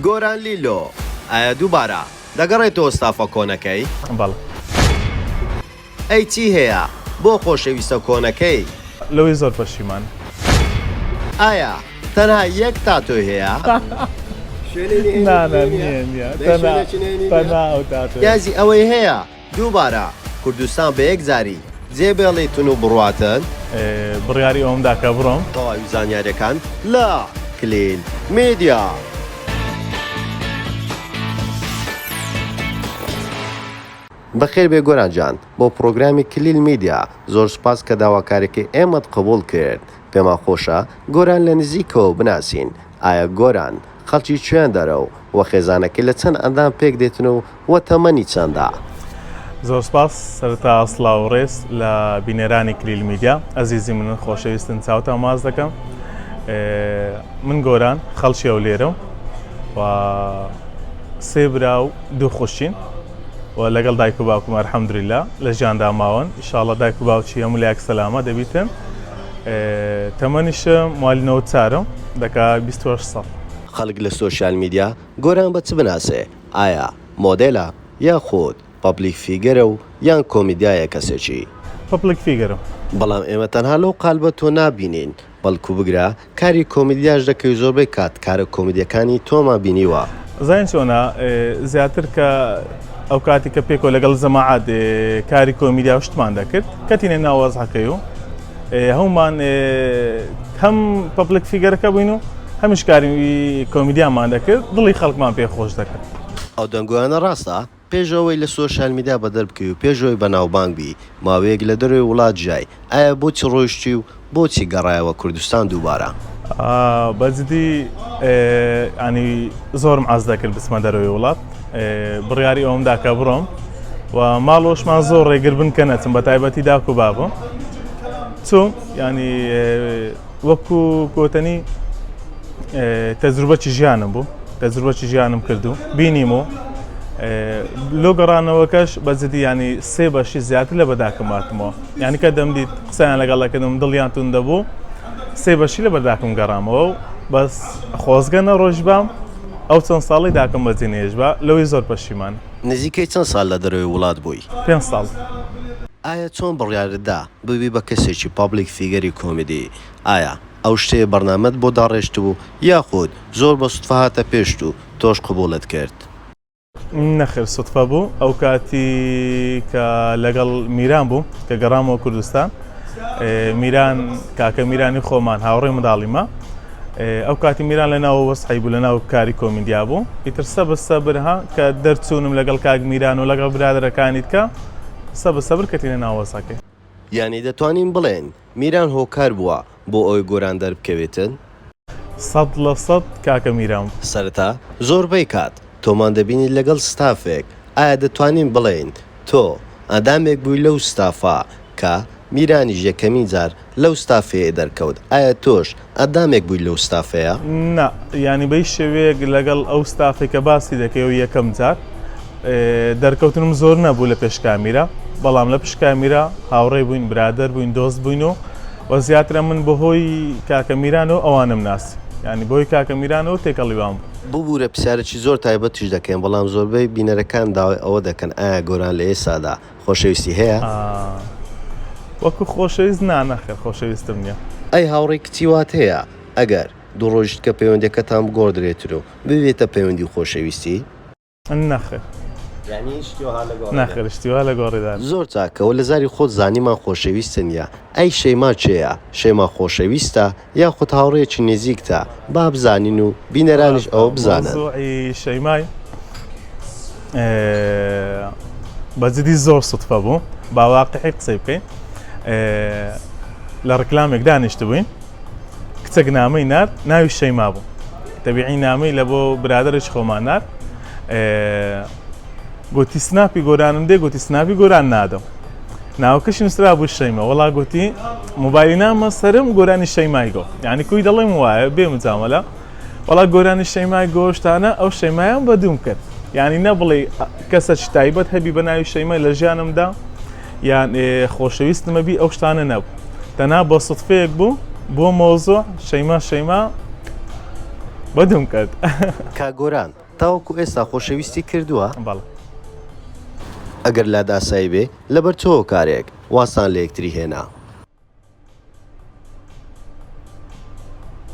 گۆران لیلۆ ئایا دووبارە دەگەڕێتەوە ستافە کۆنەکەی؟ بەڵێ. ئەی چی هەیە بۆ خۆشەویستە کۆنەکەی؟ لەوەی زۆر پەشیمان. ئایا تەنها یەک تاتۆی هەیە؟ نا نا نییە نییە تەنها تەنها ئەو تاتۆیە. نیازی ئەوەی هەیە دووبارە کوردستان بە یەکجاری جێ بێڵی تون و بڕواتن؟ بڕیاری ئەوەم دا کە بڕۆم. تەواوی زانیاریەکان لە، کلیل میدیا. بەخێر بێی گۆران جان بۆ پڕۆگرامی کلیل میدیا زۆر سوپاس کە داواکاریەکەی ئێمەت قبوڵ کرد پێمان خۆشە گۆران لە نزیکەوە بناسین ئایا گۆران خەڵکی کوێندەرە و وە خێزانەکەی لە چەند ئەندام پێک دێتن و وە تەمەنی چەندە؟ زۆر سپاس، سەرەتا سڵاو و ڕێز لە بینەرانی کلیل میدیا ئەزیزی منن خۆشەویستن چاوتان واز دەکەم من گۆران خەڵکی ئەولێرەم و سێ برا و دوو خوشین و لەگەڵ دایک و باوکم ئەرحەمدوریلا لە ژیاندا ماون ئیشاڵە دایک و باوکی هەموو لایەک سەلامە دەبیتن تەمەنیشم مالی نەوەد چارم دەکا بیست و هەشت ساڵ. خەڵک لە سۆشیال میدیا گۆران بە چ بناسێ ئایا مۆدێلە یاخود پەبلیک فیگەرە و یان کۆمیدیایە کەسێکی. پەپلیک فیگەرم. بەڵام ئێمە تەنها لەو قالبە تۆ نابینین بەڵکو بگرە کاری کۆمیدیاش دەکەی زۆربەی کات کارە کۆمیدیەکانی تۆمان بینیوە. زانین چۆنە زیاتر کە ئەو کاتی کە پێکۆ لەگەڵ زەماعات کاری کۆمیدیا و شتمان دەکرد کەتینە ناوازحەکەی و هەومان هەم پەپلک فیگەرەکە بووین و هەمیش کاری کۆمیدیامان دەکرد دڵی خەڵکمان پێ خۆش دەکرد. ئەو دەنگۆیانە ڕاستە؟ پێش ئەوەی لە سۆشیال میدیا بەدەر بکەوی و پێش ئەوەی بەناوبانگ بی، ماوەیەک لە دەرەوەی وڵات ژیای، ئایا بۆچی ڕۆیشتی و بۆچی گەڕایەوە کوردستان دووبارە؟ بەجدی ینی زۆرم عەز دەکرد بچمە دەرەوەی وڵات بڕیاری ئەوم دا کە بڕۆم و ماڵۆشمان زۆر ڕێگر بن کە نەچم بە تایبەتی داک و بابم چوم ینی وەکو کۆتەنی تەجروبەکی ژیانم بوو تەجروبەکی ژیانم کردو بینیم و لۆ گەڕانەوەکەش بەجدی ینی سێ بەشی زیاتر لە بەداکەم ماتمەوە یانی کە دەمدیت قسەیان لەگەڵ دەکردم دڵیان تون دەبوو سێ بەشی لە بەرداکم گەڕامەوە و بەس خۆزگە نەڕۆژ بام ئەو چەند ساڵی داکم بەجێ نێژ بە لەوەی زۆر پەشیمان نزیکەی چەند سال لە دەرەوەی وڵات بووی؟ پێنج ساڵ. ئایا چۆن بڕیارت دا ببی بە کەسێکی پابلیک فیگەری کۆمیدی؟ ئایا ئەو شتەیە بەرنامەت بۆ داڕێشتبوو یاخود زۆر بە سوتفە هاتە پێشت و تۆش قبوڵت کرد؟ نەخێر سوتفە بوو ئەو کاتی کە لەگەڵ میران بووم کە گەڕامەوە کوردستان میران کاکە میرانی خۆمان هاوڕێ منداڵیمە ئەو کاتی میران لە ناو وەسحی بوو لە ناو کاری کۆمیندیا بوو ئیتر سەبر سەبرها کە دەرچوونم لەگەڵ کاک میران و لەگەڵ برادەرەکانیت کە سەبر سەبر کەتینە ناوەسەکەی یانی دەتوانین بڵێن میران هۆکار بووە بۆ ئەوەی گۆران دەربکەوێتن؟ سەد لە سەد کاکە میران. سەرەتا زۆربەی کات تۆمان دەبینین لەگەڵ ستافێک ئایا دەتوانین بڵێین تۆ ئەندامێک بووی لەو ستافە کە میرانیش یەکەمین جار لەو ستافەیە دەرکەوت ئایا تۆش ئەدامێک بووی لەو ستافەیا؟ نا یانی بەیش شێوەیەک لەگەڵ ئەو ستافەی کە باسی دەکەی و یەکەم جار دەرکەوتنم زۆر نەبوو لە پێش کامیرا بەڵام لە پشت کامیرا هاوڕێ بووین برادەر بووین دۆست بووین و و زیاترە من بەهۆی کاکە میران و ئەوانم ناسی ینی بۆی کاکە میران و تێکەڵیوان بوو. ببورە پسیارەکی زۆر تایبەتیش دەکەین بەڵام زۆربەی بینەرەکان داوای ئەوە دەکەن ئایا گۆران لە ئێستادا خۆشەویستی هەیە؟ ئا وەکو خۆشەویست نا نەخێر خۆشەویستم نیە. ئەی هاوڕێی کچی وات هەیە ئەگەر دوو ڕۆژیش کە پەیوەندیەکەتان بگۆڕدرێترو ببێتە پەیوەندی خۆشەویستی؟ نەخێر نەخێر شتی وا لە گۆڕی دانە. زۆر چاکە وە لە زاری خۆت زانیمان خۆشەویستە نیە ئەی شەیما کێیە شەیما خۆشەویستە یاخود هاوڕێیەکی نیزیکتە با بزانین و بینەرانیش ئەوە بزانن. مەوزوعی شەیمای بە جدی زۆر سوتفە بوو با واقعی قسەی بکەین لە ڕکلامێک دانیشتبووین کچەک نامەی نارد ناوی شەیما بوو تەبیعی نامەی لە بۆ برادرش خۆمان نارد گوتی سناپی گۆرانم دێ گوتی سناپی گۆران نادەم ناوکەشی نووسرا بوو شەیمە وڵا گوتی موبایلی نامە سرم گۆرانی شەیمای گۆ یعنی کوی دەڵێم وایە بێ مجامەلە وڵا گۆرانی شەیمای گۆشتانە ئەو شەیمایان بەدوم کرد یعنی نە بڵێ کەسە تایبەت هەبی بە ناوی شەیمە لە ژیانمدا یان خۆشەویستمەبی ئەو شتانە نەبوو تەنا بۆ سوتفەیەک بوو بۆ مۆزۆ شەیما شەیما بەدوم کرد کا گۆران تاوەکو ئێستا خۆشەویستی کردوە؟ بەڵێ. ئەگەر لات ئاسایی بێ لەبەر تۆ هۆکارێک وازتان لە یەکتری هێنا؟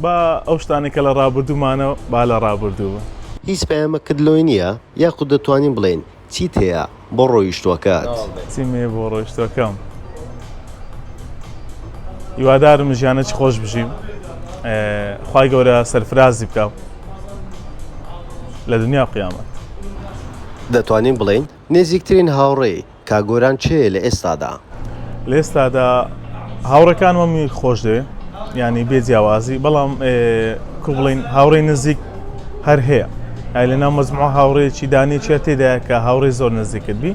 با ئەو شتانەی کە لە ڕابردوومانە با لە ڕابردوو بن. هیچ پەیامەکت لۆی نییە؟ یاخود دەتوانین بڵێین چیت هەیە بۆ ڕۆیشتوەکەت؟ چیم هەیە بۆ ڕۆیشتوەکەم؟ هیوادارم ژیانەکی خۆش بژیم خوای گەورە سەرفرازی بکاو لە دنیا و قیامەت. دەتوانین بڵێین نێزیکترین هاوڕێی کاک گۆران کێیە لە ئێستادا؟ لێستادا هاوڕەکان وە منی خۆش دێ ینی بێ جیاوازی بەڵام کو بڵین هاوڕێ نزیک هەر هەیە ئای لە ناو مەزموع هاوڕێکی دانێکیە تێدا کە هاوڕێ زۆر نزیکت بی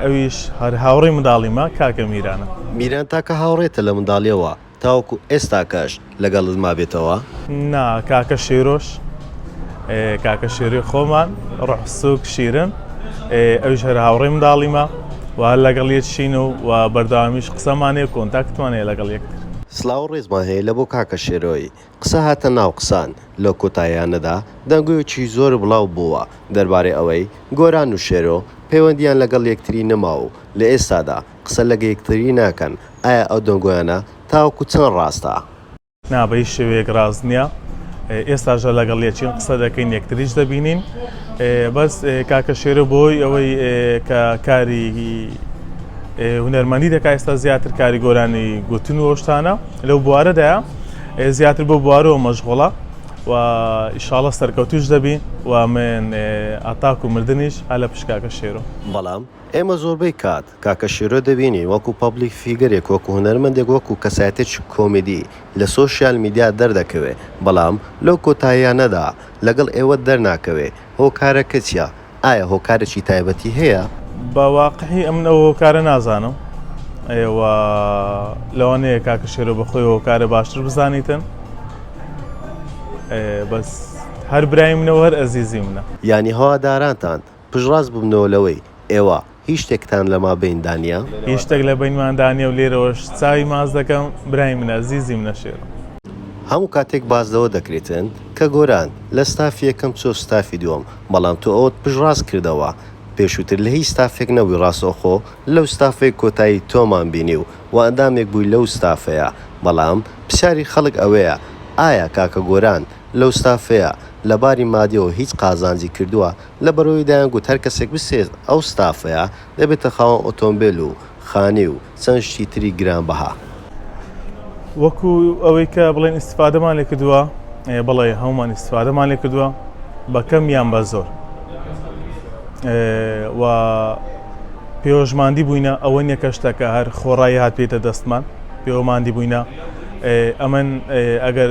ئەویش هەر هاوڕێ منداڵیمە کاکە میرانە میران تاکە هاوڕێتە لە منداڵیەوە تاوەکو ئێستاکەش لەگەڵت مابێتەوە؟ نا کاکە شیرۆش کاکە شیری خۆمان ڕۆح سوک شیرن ئەویش هەر هاوڕێی منداڵیمە و هەر لەگەڵ یەک شین و و بەردەوامیش قسەمان هەیە کۆنتاکتمان هەیە لەگەڵ یەکتر. سڵاو و ڕێزمان هەیە لە بۆ کاکە شێرۆی قسە هاتە ناو قسان، لەو کۆتاییانەدا دەنگۆیەکی زۆر بڵاو بووە دەربارەی ئەوەی گۆران و شێرۆ پەیوەندییان لەگەڵ یەکتری نەماوە و لە ئێستادا قسە لەگە یەکتری ناکەن، ئایا ئەو دەنگۆیانە تاوەکو چەند ڕاستە؟ نا بە هیچ شێوەیەک ڕاست نییە، ئێستاشدا لەگەڵ یەکین قسە دەکەین یەکتریش دەبینین، بەس کاکە شێرۆ بەهۆی ئەوەی کە کاری هونەرمەندی دەکات ئێستا زیاتر کاری گۆرانی گوتن و ئەو شتانە لەو بوارەدایە، زیاتر بۆ بوارەوە مەشغوڵە و ئیشاڵە سەرکەوتوش دەبی و من ئاتاک و مردنیش هە لە پشت کاکە شێرۆ. بەڵام ئێمە زۆربەی کات کاکە شێرۆ دەبینین وەکو پەبلیک فیگەرێک وەکو هونەرمەندێک وەکو کەسایەتێکی کۆمیدی لە سۆشیال میدیا دەردەکەوێ بەڵام لەو کۆتاییانەدا لەگەڵ ئێوە دەرناکەوێ هۆکارەکە چیە؟ ئایا هۆکارێکی تایبەتی هەیە؟ بە واقعی ئەمن ئەو هۆکارە نازانم ئێوە لەوانەیە کاکە شێرۆ بەخۆی هۆکارە باشتر بزانیتن بەس هەر برای منەوە هەر ئەزیزی منە یانی هەوادارانتان پشتڕاست ببنەوە لەوەی ئێوە هیچ شتێکتان لە ما بەین دا نیە؟ هیچ شتێک لە بەینمان دا نیە و لێرەوەش چاوی ماست دەکەم، برای من ئەزیزی منە شێرم. هەموو کاتێک باس لەوە دەکریتن کە گۆران لە ستافی یەکەم چوە ستافی دوەم بەڵام تۆ ئەوەت پشت ڕاست کردەوە پێشوتر لە هیچ ستافێک نەبوی ڕاستەوخۆ لەو ستافەی کۆتایی تۆمان بینی و وە ئەندامێک بوی لەو ستافەیە بەڵام پسیاری خەڵک ئەوەیە ئایا کاکە گۆران لەو ستافەیە لە باری مادیەوە هیچ قازانجی کردوە لە بەرۆی دایان گوت هەر کەسێک بستێت ئەو ستافەیە دەبێتە خاوەن ئۆتۆمبێل و خانیی و چەند شتی تری گران بەها. وەکو ئەوەی کە بڵێن ئیستفادەمان لێ کردووە، ئێ بەڵێ هەموومان ئیستفادەمان لێ کردووە بە کەم یان بە زۆر. و پێوەشماندی بووینە ئەوە نیە کە شتەکە هەر خۆڕایی هات بێتە دەستمان پێوەماندی بووینە ئەمن ئەگەر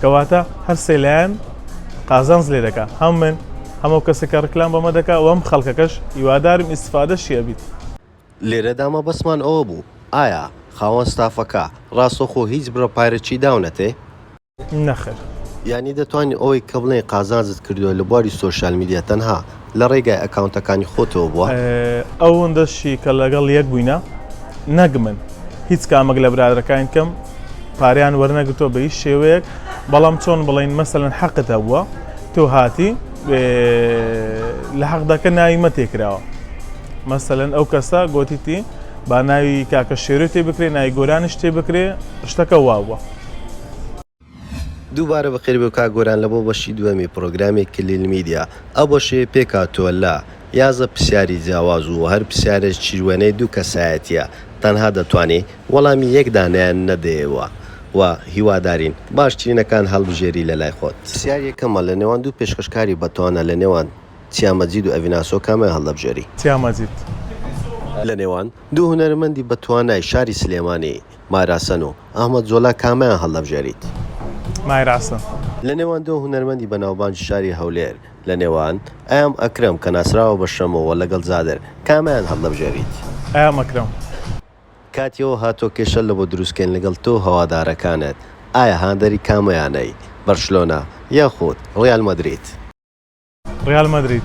کەواتە هەر سێ لایەن قازانز لێ دەکا هەم من هەمەو کەسێکە ڕکلام بەمە دەکا وەم خەڵکەکەش هیوادارم ئیسفادە شیە بیت. لێرەدا مەبەستمان ئەوە بوو ئایا خاوەن ستافەکە ڕاستەوخۆ هیچ بڕە پارەکی داونەتێ؟ نەخێر. یانی دەتوانین ئەوەی کە بڵێین قازانجت کردووە لە بواری سۆشیال میدیا تەنها لە ڕێگای ئەکاونتەکانی خۆتەوە بووە؟ ئەوەندەشی کە لەگەڵ یەک بووینە نەک من هیچ کامەک لە برادەرەکانی کەم پاریان وەرنەگرتووە بە هیچ شێوەیەک بەڵام چۆن بڵین مەسەن حەقت هەبووە تۆ هاتی لە حەقدەکە ناوی مە تێکراوە مەسەن ئەو کەسە گوتیتی با ناوی کاکە شێرو تێ بکرێ نای گۆرانیش تێ بکرێ شتەکە واوە دووبارە بەخێر بێ کاک گۆران لەبۆ بەشی دووەمی پڕۆگرامی کلیل میدیا ئەو بەشەی پێ کاتوە لە یازدە پرسیاری جیاواز و هەر پرسیارێک چیروێنەی دوو کەسایەتیە تەنها دەتوانی وەڵامی یەک دانەیان نەدەیەوە و هیوادارین باشترینەکان هەڵبژێری لەلای خۆت. پرسیار یەکەمە لە نێوان دوو پێشکەشکاری بەتوانا لە نێوان چیا مەجید و ئەڤین ئاسۆ کامیان هەڵدەبژێری؟ چیا مەجید. لە نێوان دوو هونەرمەندی بەتوانای شاری سلێمانی مایراسن و ئەحمەد زۆلا کامیان هەڵدەبژێریت؟ مایراسن. لە نێوان دو هونەرمەندی بەناوبانگی شاری هەولێر، لە نێوان، ئەیام ئەکرەم، کە ناسراوە بە شەمۆ، و لەگەڵ زادر، کامیان هەڵدەبژێریت؟ ئەیام ئەکرەم. کاتی ئەوە هاتوە کێشە لە بۆ دروست کەین لەگەڵ تۆ و هەوادارەکانت، ئایا هاندەری کام یانەیت، بەرشلۆنە، یاخود، ڕیال مەدرید؟ ڕیال مەدرید.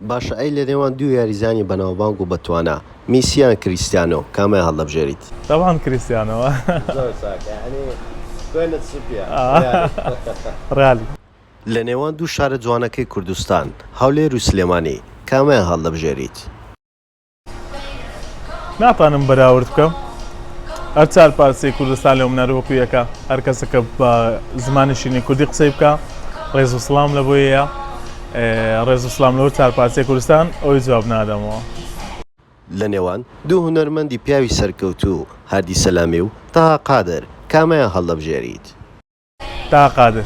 باشە ئەی لەنێوان دوو یاریزانی بەناوبانگ و بەتوانا، میسی یان کریستیانۆ، کامیان هەڵدەبژێریت؟ تەبعەن کریستیانۆ. زۆر چاک یانی خوێنت سپیە ڕیالی. لەنێوان دوو شارە جوانەکەی کوردستان، هەولێر و سلێمانی، کامیان هەڵدەبژێریت؟ ناتانم بەراورد بکەم هەر چار پارسی کوردستان لەو منەر وەکو یەکە هەر کەسەکە بە زمانی شینی کوردی قسەی بکە ڕێز و سلام لە بۆیە ڕێز و سلام لەور چار پارسی کوردستان ئەوی جواب نادەمەوە لە نێوان دوو هونەرمەندی پیاوی سەرکەوتوو هادی سەلامی و تەها قادر کامیان هەڵدەبژێریت؟ تاها قادر.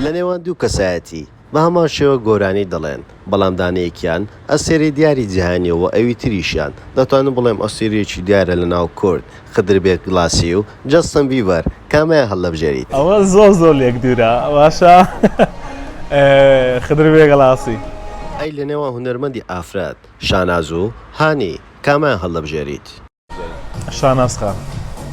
لە نێوان دوو کەسایەتی، بە هەمان شێوە گۆرانی دەڵێن، بەڵام دانەیەکیان ئەستێرەی دیاری جیهانیە و ئەوی تریشیان، دەتوانم بڵێم ئەستێرەیەکی دیارە لە ناو کورد، خدربێک گڵاسی و جەستن بیبەر، کامیان هەڵدەبژێریت؟ ئەوە زۆر زۆر لێک دوورە باشە خدر بێ گڵاسی. ئەی لە نێوان هونەرمەندی ئافرەت، شاناز و هانی، کامیان هەڵدەبژێریت؟ شاناز خان.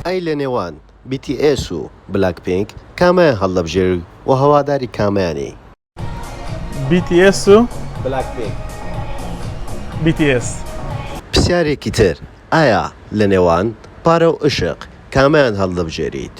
ئەی لە نێوان بی تی ئێس و بلاک پینک کامیان هەلدەبژێری و هەواداری کامیانی؟ بی تی ئێس و بلاک پینک. بی تی ئێس. پسیارێکی تر ئایا لە نێوان پارە و ئیشق کامیان هەلدەبژێریت؟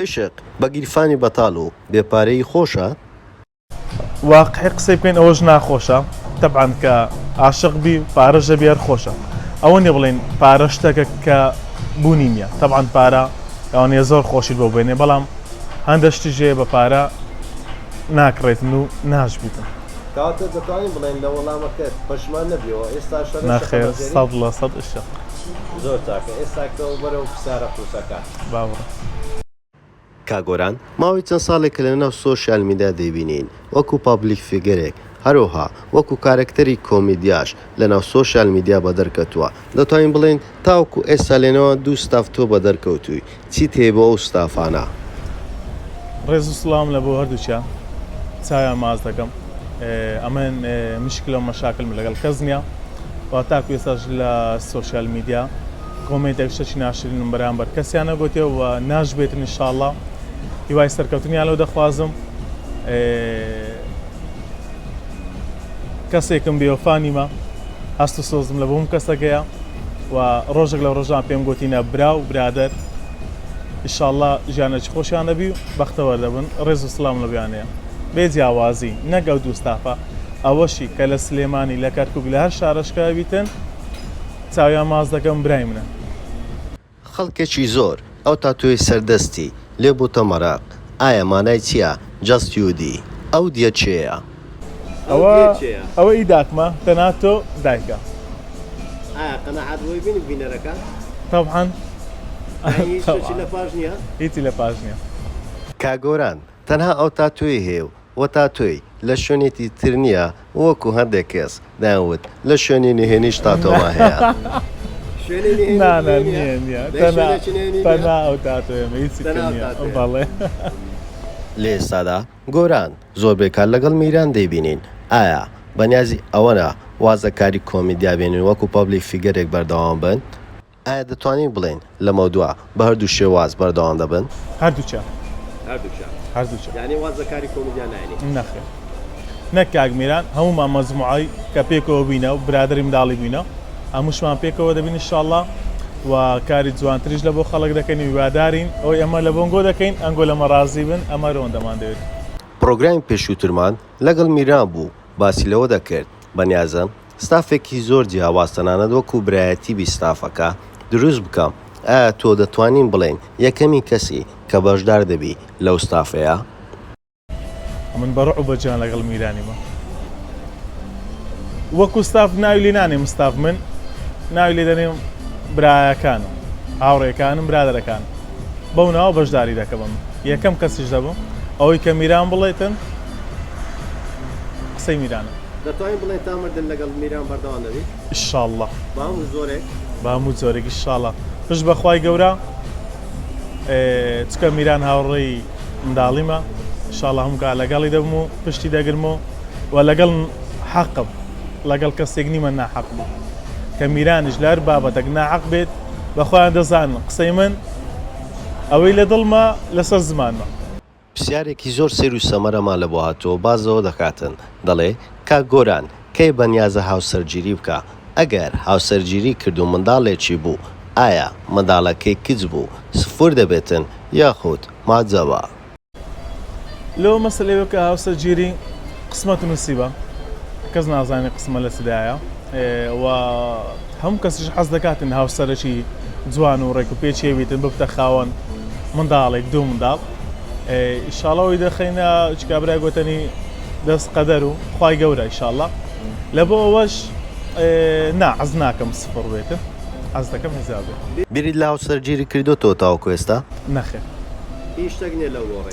عیشق بە گیرفانی بەتال و بێ پارەیی خۆشە؟ واقعی قسەی بکەین ئەوەش ناخۆشە تەبعەن کە عاشق بی پارەش هەبی هەر خۆشە ئەوە نیە بڵین پارە شتەکە کە بوونی نییە تەبعەن پارە ئەوانەیە زۆر خۆشی بۆ بێنێ بەڵام هەندە شتی ژێ بە پارە ناکڕێتن و ناش بیتن کاکە دەتوانین بڵێین لە وەڵامەکەت پەشمان نەبیەوە ئێستا شەڕێ نەخێر سەد لە سەد عیشق زۆر چاکە ئێستا کەوە بەرەو فسارە قورسەکە. باوڕە. کاک گۆران ماوەی چەند ساڵێکە لەناو سۆشیال میدیا دەیبینین وەکو پابلیک فیگەرێک هەرەوها وەکو کارەکتەری کۆمیدیاش لەناو سۆشیال میدیا بەدەر کەتووە دەتوانین بڵێین تاوەکو ئێستا لەنێوان دوو ستاف تۆ بەدەر کەوتووی چیت هەیە بۆ ئەو ستافانە؟ ڕێز و سڵاوم لە بۆ هەردووکیان چاویان ماچ دەکەم ئەمن مشکلە و مەشاکلم لەگەڵ کەس نیە و تاکو ئێستاش لە سۆشیال میدیا، کۆمێنتێک شتێکی ناشرینم بەرامبەر کەسیان نەگوتێ و ناشبێتن انشاءاللە هیوای سەرکەوتنیان لەو دەخوازم کەسێکم بێوەفا نیمە هەست و سۆزم لە بۆم کەسەکەیە و ڕۆژێک لە ڕۆژان پێم گوتینە برا و برادەر ئیشاءاللە ژیانێکی خۆشیان دەبی و بەختەوەر دەبن ڕێز و سلام لە بیانەیە بێ جیاوازی نەگە و دووستافە ئەوەشی کە لە سلێمانی لە کەرکک لە هەر شارەشکاویتن چاویان ماچ دەکەم برای منە. خەڵکێکی زۆر ئەو تاتۆی سەر دەستی لێ بووتە مەرەق ئایا مانای چیە جەست یو دی ئەو دیە کێیە؟ ئەوە ئەوە ئی داکمە تەنها تۆ دایکە. ئایا قەناعەت بووی بینی بینەرەکە؟ تەبعەن یانی هیچ شتێکی لەپاش نیە؟ هیچی لەپاش نیە. کاک گۆران تەنها ئەو تاتۆی هەیە و و تاتۆی لە شوێنێکی تر نییە وەکو هەندێک کەس دەیان وت لە شوێنی نهێنیش تاتۆمان هەیە. لە ئێستادا گۆران زۆربەی کات لەگەڵ میران دەیبینین، ئایا بەنیازی ئەوەنە واز لە کاری کۆمیدیا بێنن وەکو پەبلیک فیگەرێک بەردەوام بن؟ ئایا دەتوانین بڵێین لەمەودوا بە هەردوو شێواز بەردەوام دەبن؟ هەردووکیان. هەردووکیان. هەردووکیان. یانی واز لە کاری کۆمیدیا ناینی؟ نەخێر. نەک کاک میران، هەموومان مەجموعەی کە پێکەوە بووینە و برادەری منداڵی بووینە، هەمووشمان پێکەوە دەبین ان شاء اللە و کاری جوانتریش لە بۆ خەڵک دەکەین و هیوادارین ئەوەی ئەمە لە بۆنگۆ دەکەین ئەنگۆ لەمە ڕازی بن، ئەمە رۆندەمان دەوێت. پڕۆگرامی پێشووترمان لەگەڵ میران بوو باسی لەوە دەکرد، بەنیازم. ستافێکی زۆر جیاواز تەنانەت وەکو برایەتی بی ستافەکە دروست بکە ئایا تۆ دەتوانین بڵێین یەکەمین کەسی کە بەشدار دەبی لەو ستافەیە؟ من بە رعب بە جوان لەگەڵ میرانیمە وەکو ستاف ناوی لێ نانێم ستاف من ناوی لێ دەنێم برایەکانم هاوڕێکانم برادەرەکان بەو ناوە بەشداری دەکەم یەکەم کەسیش دەبم ئەوەی کە میران بڵێتن قسەی میرانە دەتوانین بڵێین تا مردن لەگەڵ میران بەردەوام دەبین. ئیشاڵڵا. بە هەموو جۆرێک. بە هەموو جۆرێک ئیشاڵڵا. پشت بە خوای گەورە چکە میران هاوڕێی منداڵیمە ئیشاڵڵا هەموو کات لەگەڵی دەبم و پشتی دەگرم و و لەگەڵ حەقم لەگەڵ کەسێک نیمە ناحەق بوو کە میرانیش لەر بابەتەک ناحەق بێت بەخۆیان دەزانن قسەی من ئەوەی لە دڵمە لەسەر زمانمە پرسیارێکی زۆر سەیر و سەمەرەمان لە بۆ هاتووە باس لەوە دەکاتن دەڵێ، کاک گۆران کەی بەنیازە هاوسەرگیری بکا؟ ئەگەر هاوسەرگیری کرد و منداڵێکی بوو ئایا منداڵەکەی کچ بوو سفور دەبێتن یاخود محجەبە؟ لەوە مەسەلەی وەک هاوسەرگیری قسمەت و نسیبە کەس نازانێ قسمەت لە چ لایە. و هەموو کەسیش حەز دەکاتن هاوسەرەکی جوان و ڕێکوپێکی بیتن ببتە خاوەن منداڵێک دوو منداڵ ئیشاڵەوەی دەخینە چکابرای گوتنی دەست قەدەر و خی گەورە ئیشاڵە لە بۆ ئەوەش نا عەز ناکەم سفڕ بێتن ئەز دەکەم هزار بێت بیریت لە هاوسەرگیری کردۆتەوە تاوەکو ئێستا؟ نەخێر هیچ شتێک نیە لەو گۆڕێ.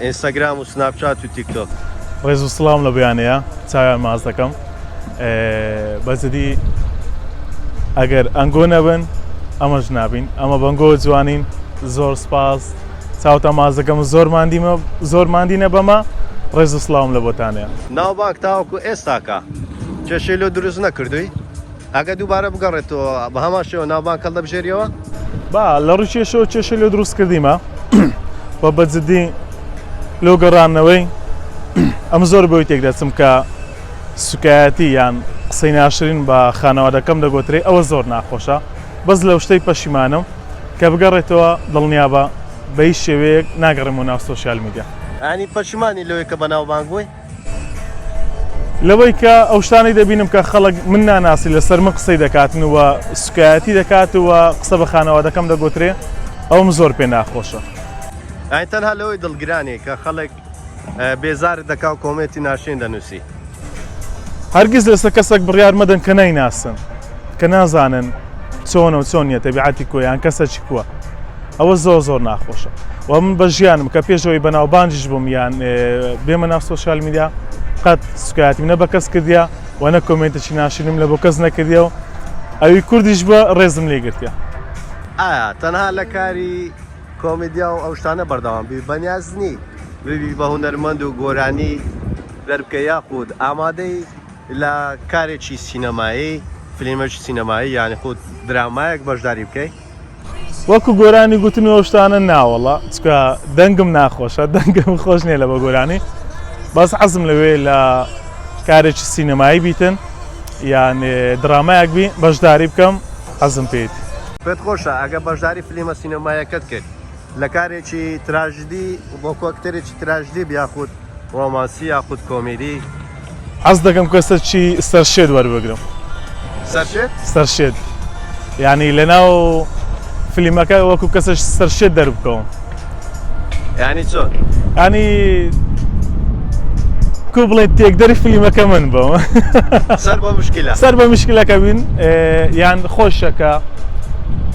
ئینستاگرام و سناپ چات و تیک تۆک. ڕێز و سڵاوم لە بەیانەیە چاویان ماچ دەکەم بە جدی ئەگەر ئەنگۆ نەبن ئەمەش نابین ئەمە بەنگۆ جوانین زۆر سپاس چاوتە ماز دەکەم و زۆر مادیمە زۆر مادینە بەمە ڕێز و سڵاوم لە بۆتانەیە. ناوبانگ تاوەکو ئێستاکە کێشەی لۆ دروست نەکردووی؟ ئەگەر دووبارە بگەڕێتەوە بە هەمان شێوە ناوبانگ هەڵدەبژێریەوە؟ با لە ڕیکێشەوە کێشە لێ دروست کردیمە و بە جددی لۆ گەڕانەوەی ئەم زۆر بۆی تێک دەچم کە سوکایەتی یان قسەی ناشرین بە خانەوادەکەم دەگۆترێ ئەوە زۆر ناخۆشە بەس لەو شتەی پەشیمانم کە بگەڕێتەوە دڵنیا بە بەی شێوەیەک ناگەڕێمەوە ناو سۆسیال میدیا. یانی پەشیمانی لەوەی کە بەناوبانگ بووی؟ لەوەی کە ئەو شتانەی دەبینم کە خەڵک من ناناسی لەسەر من قسەی دەکاتن و سوکایەتی دەکات و قسە بە خانەوادەکەم دەگوترێ ئەوم زۆر پێ ناخۆشە ئای تەنها لەوەی دڵگرانێ کە خەڵک بێزارت دەکا و کۆمێتی ناشێن دەنووسی هەرگیز لەسەر کەسێک بڕیار مەدەن کە نایناسن کە نازانن چۆنە و چۆن نیە تەبیعاتی کۆیان کەسەکی کووە ئەوە زۆر زۆر ناخۆشە و من بە ژیانم کە پێش ئەوەی بەناوبانجیش بووم یان بێمە ناو سۆشیال میدیا قەت سوکایەتی منە بە کەس کردیا و نە کۆمێنتێکی ناشرینم لە بۆ کەس نەکردیا و ئەوی کوردیش بە ڕێزم لێ گرتیا ئایا تەنها لە کاری کۆمیدیا و ئەو شتانە بەردەوام بی بەنیاز نی ببی بە هونەرمەند و گۆرانی دەربکە یاخود ئامادەی لە کارێکی سینەمایی فلیمەکی سینەمایی یانی خود درامایەک بەشداری بکەی؟ وەکو گۆرانی گوتن و شتانە ناوەڵە چکە دەنگم ناخۆشە دەنگم خۆش نیە لە بە گۆرانی بەس حەزم لەوێ لە کارێکی سینەمایی بیتن یان درامایەک بی بەشداری بکەم حەزم پێیت پێت خۆشە ئەگە بەشداری فلیمە سینەمایەکەت کرد لە کارێکی تراژدی وەکو ئەکتەرێکی تراژدی یاخود ڕۆمانسی یاخود کۆمیدی حەز دەکەم کەسەکی سەرشێت وەربگرم سەرشێت سەرشێت یعنی لەناو فلیمەکە وەکو کەسەش سەرشێت دەربکەوم ینی چۆن ینی کو بڵێ تێکدەری فلیمەکە من بەوە سەر بە مشکلەکە بین یان خۆشەکە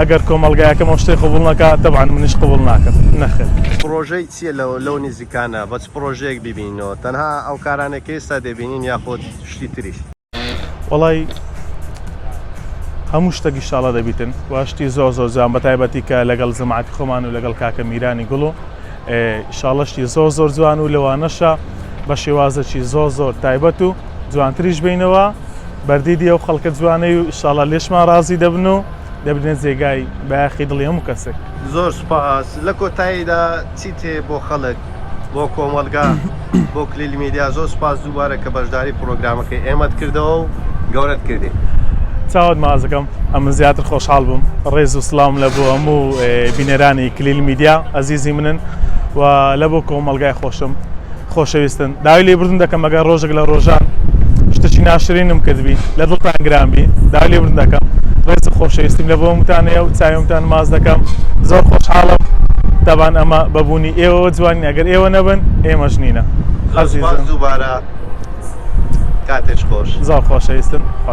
ئەگەر کۆمەڵگایەکەم ئەو شتەی قبوڵ نەکا تەبعەن منیش قبوڵ ناکەم نەخێر. پڕۆژەی چییە لەو لەو نیزیکانە بە چ پڕۆژەیەک بیبینینەوە تەنها ئەو کارانەی کە ئێستا دەبینین یاخود شتی تریش؟ وەڵای هەموو شتێک ئیشاڵا دەبیتن و شتی زۆر زۆر جوان بە تایبەتی کە لەگەڵ جەماعەتی خۆمان و لەگەڵ کاکە میرانی گوڵ و ئیشاڵا شتی زۆر زۆر جوان و لەوانەشە بە شێوازێکی زۆر زۆر تایبەت و جوانتریش بینەوە بەردیدی ئەو خەڵکە جوانەی و ئیشاڵا لێشمان ڕازی دەبن و دەبنە جێگای بایەخی دڵی هەموو کەسێک زۆر سپاس لە کۆتاییدا چیت هەیە بۆ خەڵک بۆ کۆمەڵگا بۆ کلیل میدیا زۆر سپاس دووبارە کە بەشداری پرۆگرامەکەی ئێمەت کردەوە و گەورەت کردی چاوت مازەکەم ئەمە زیاتر خۆشحاڵ بووم ڕێز و سلام لە بۆ هەموو بینەرانی کلیل میدیا ئەزیزی منن و لە بۆ کۆمەلگای خۆشم خۆشەویستن داوای لێبوردن دەکەم ئەگەر ڕۆژێک لە ڕۆژان شتێکی ناشرینم کردبی لە دڵتان گرانبی داوای لێبوردن دەکەم ڕێز و خۆشەویستیم لە بۆ متانەیە و چاومتان ماز دەکەم زۆر خۆشحاڵم دەبان ئەمە بەبوونی ئێوە جوانین ئەگەر ئێوە نەبن ئێمە ژنینە دووبارە کاتێش خۆش زۆر خۆشەویستن خۆتان